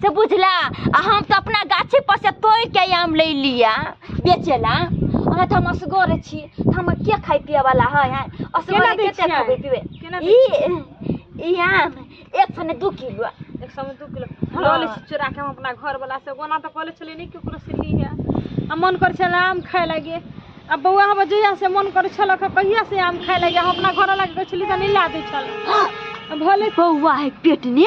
से बुझला आ हम तऽ अपना गाछी पर से तोड़ के आम ले लिया बेचेला अहाँ तऽ हम असगर छी तऽ हम के खाय पिए वाला है हैं केना असगर दै केते छियै? खाबे पीबे केना दै ई ई आम एक सौ ने दू किलो एक सौ में दू किलो हाँ। लऽ लै छी चोरा के हम अपना घर वाला से ओना तऽ कॉलेज छलै नहि केकरो से ली है आ मन करै छलै आम खाय लागे आ बौआ हमर जहिया से मन करै छल कहिया से आम खाय लागे हम अपना घर वाला के कहै छलियै तऽ नहि ला दै छल भले बौआ है पेट ने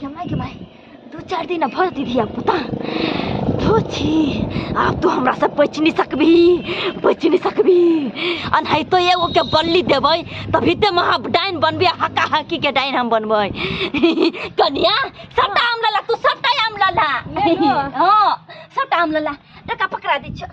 केमाय केमाय दू चारि दिन भऽ जेतै धिया पुता धो छी आब तू हमरा से बचि नहि सकबी बचि नहि सकबी अनहैतो एगो के बल्ली देबै तभी ते महा डाइन बनबे हका हकी के डाइन हम बनबै कनिया सबटा आम लला तू सबटा आम लला ले लो। हाँ सबटा आम लला टका पकड़ा दै छ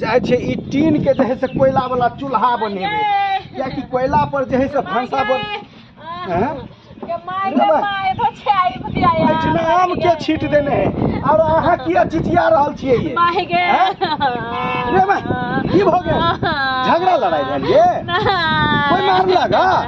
जाइ छै ई टीन के जे है से कोयला वाला चूल्हा बनेबै कियाकि कोयला पर जे है से भनसा बन हैं? एहिठिना आम के छीट देने है और अहाँ किया चिचिया रहल छियै ये हैं? रे माय, की भऽ गेल झगड़ा लड़ाई भेल ये कोई मार लगा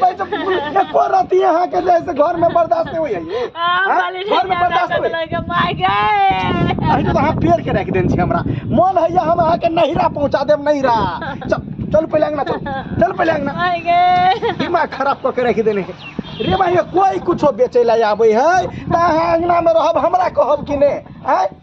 भाई जब एको राती अहाँ के जैसे घर में बर्दाश्त नहीं होइए ये हाँ? घर में बर्दाश्त होइए अरे तो अहाँ पेड़ के रख देन छी हमरा मन है या हम अहाँ के नहिरा पहुंचा देब नहिरा चल चल पहिले अंगना चल चल पहिले अंगना दिमाग खराब क के रख देने है रे भाई कोई कुछो बेचे ला आबे है त अहाँ अंगना में रहब हमरा कहब कि ने हैं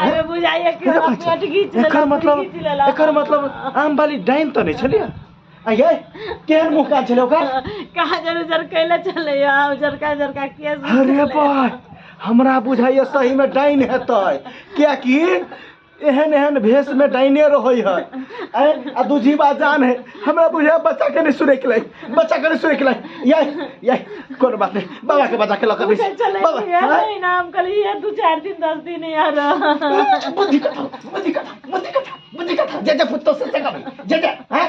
अरे बुझाइए कि हमरा पेट घीच लेलक, एकर मतलब घीच लेलक। एकर मतलब आम वाली डाइन तऽ नहि छलियै आ ये केहन मुँह कान छलै ओकर कहाँ जर उजर कैले चले यहाँ उजरका उजरका केस अरे भाई हमरा बुझाइए सही में डाइन हेतै कियाकि एहन एहन भेष में डाइने रहै है आ दूजी बात जान है हमरा बुझाय बच्चा के नहीं सुने के लाई बच्चा के नहीं सुने के लाई ये ये कोनो बात नहीं बाबा के बच्चा के लकर पूछे नहीं चले बाबा यार हाँ? नहीं नाम कल ये दो चार दिन दस दिन यार बुद्धि कथा बुद्धि कथा बुद्धि कथा बुद्धि कथा जे जे पुत्तो से जगह में जे जे हैं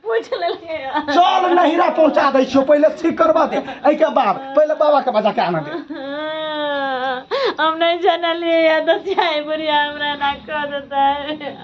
पूछ ले ले यार चल नहिरा पहुंचा दै छियो पहिले ठीक करबा दे एहि के बाद पहिले बाबा के बच्चा के आना दे हम नहीं जानलिए यार दस चाय बुढ़िया हमरा ना कह देता है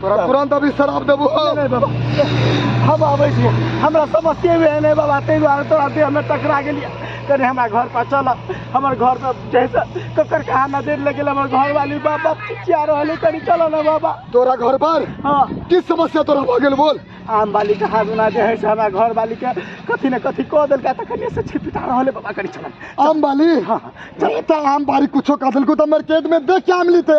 तोरा तुरंत अभी शराब देबो नहीं बाबा हम आबै छियै हमरा समस्ये भी एहन है बाबा ताहि दुआरे तोरा देह में टकरा गेलियै कनि हमरा घर पर चल हमर घर पर जैसे ककर कहाँ नजर लग गेल हमर घर वाली बाबा चिया रहल है कनि चल ना बाबा तोरा घर पर हाँ की समस्या तोरा भऽ गेल बोल आम वाली के हाथ उना जे है से हमरा घर वाली के कथी ने कथी कह देलका तऽ कनि से छिपिटा रहल है बाबा कनि चल आम बाली हाँ, हाँ, चल। अरे तऽ आम बारी कुछो कह देलको तऽ हमर पेट में देख के आम लीते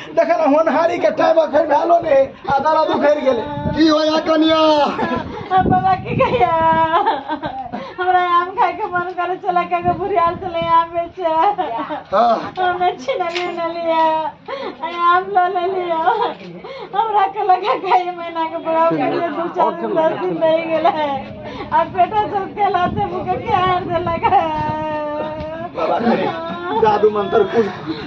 देखल होनहारी के टाइम अखन भेलो ने आ दर्द उखड़ गेले की होया कनिया हम बाबा की कहिया हमरा आम खाए के मन करे चला के के बुढ़ियाल चले आम बेचे हाँ, हमने छीना ले न लिया आई आम लो ले लिया हमरा के लगा खाए महीना के बड़ा के लिए दो चार दिन दस दिन रह गेल है अब बेटा सब के लाते मुके के हार दे लगा बाबा रे, जादू मंत्र कुछ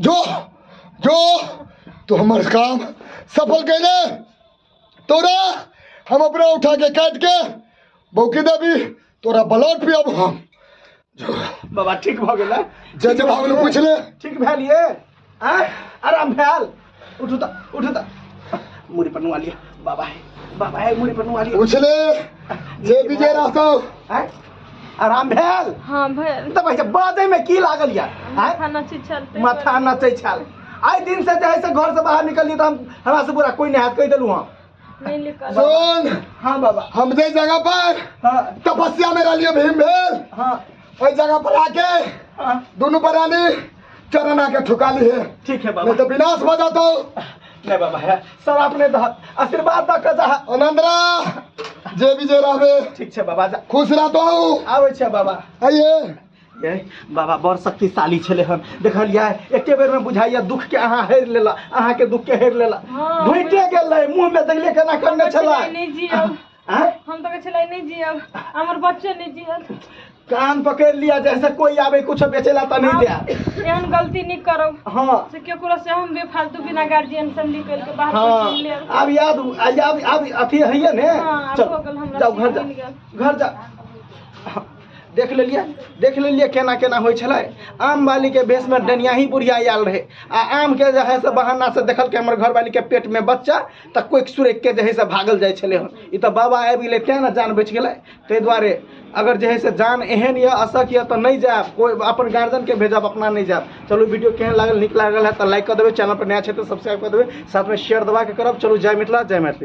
जो जो तो हमारे काम सफल कैले तोरा हम अपना उठा के काट के बौकी देवी तोरा ब्लड पे अब हम बाबा ठीक भऽ गेलै जज बाबू ने पूछले ठीक भेल ये आँ आराम भेल उठू तऽ उठू तऽ मुड़ी पर नुआ लिअ बाबा है बाबा है मुड़ी पर नुआ लिअ पूछले जे विजय रहतो आँय? आराम भेल हाँ भैया तऽ भाई बादे में की लागल यार आँय? माथा नची छल माथा नचै छल आइ दिन से जे है से घर से बाहर निकलिए तऽ हम हमरा से बुरा कोई नहि हाथ कहि देलहुँ हम नहीं लिखल सुन हाँ बाबा हम जे जगह पर हाँ तपस्या में रहलिए भीम भेल हाँ ओहि जगह पर आके हाँ दुनू परानी चरण आके ठुका ली है ठीक है नहीं बाबा तो विनाश हो जातो नहीं बाबा है सर आपने दह आशीर्वाद दऽ कऽ जा अनंदरा जे भी जे रहबे ठीक छै बाबा जा खुश रहतो आबै छै बाबा आइए ए, बाबा बड़ शक्तिशाली छले हन देखलियै एके बेर में बुझाइया दुख के अहाँ हेर लेला अहाँ के दुख के हेर लेला हाँ, घुटे गेलै मुंह में देखले केना करने छला नहीं जियब आँय? हम तो कहै नहीं जियब हमर बच्चे नहीं जियत कान पकड़ लिया जैसे कोई आवे कुछ बेचेला त नहीं दिया एहन गलती नहीं करब हाँ से केकरो से हम बेफालतू बिना गार्जियन से निकल के बाहर हाँ कुछ ले आब। अब याद आ- याद अब अथी है ने हाँ, अब चल हो गेल हमरा जाओ घर जा सीन मिल गेल। घर जा देख लेलियै देख लेलियै केना केना होइ छलै आम बालीके भेषमे डनियाही बुढ़िया आयल रहै आ आमके जे है से बहाना से देखलकै हमर घरवालीके पेटमे बच्चा तऽ कोइक सुरैकके जे है से भागल जाइ छलै हन ई तऽ बाबा आबि गेलै तेँ ने जान बचि गेलै ताहि दुआरे अगर जे है से जान एहन यऽ असक यऽ तऽ नहि जायब कोइ अपन गार्जियनके भेजब अपना नहि जायब चलू वीडियो केहन लागल नीक लागल है तऽ लाइक कऽ देबै चैनल पर नया छै तऽ सब्सक्राइब कऽ देबै साथमे शेयर दबा के करब चलू जय मिथिला जय मैथिली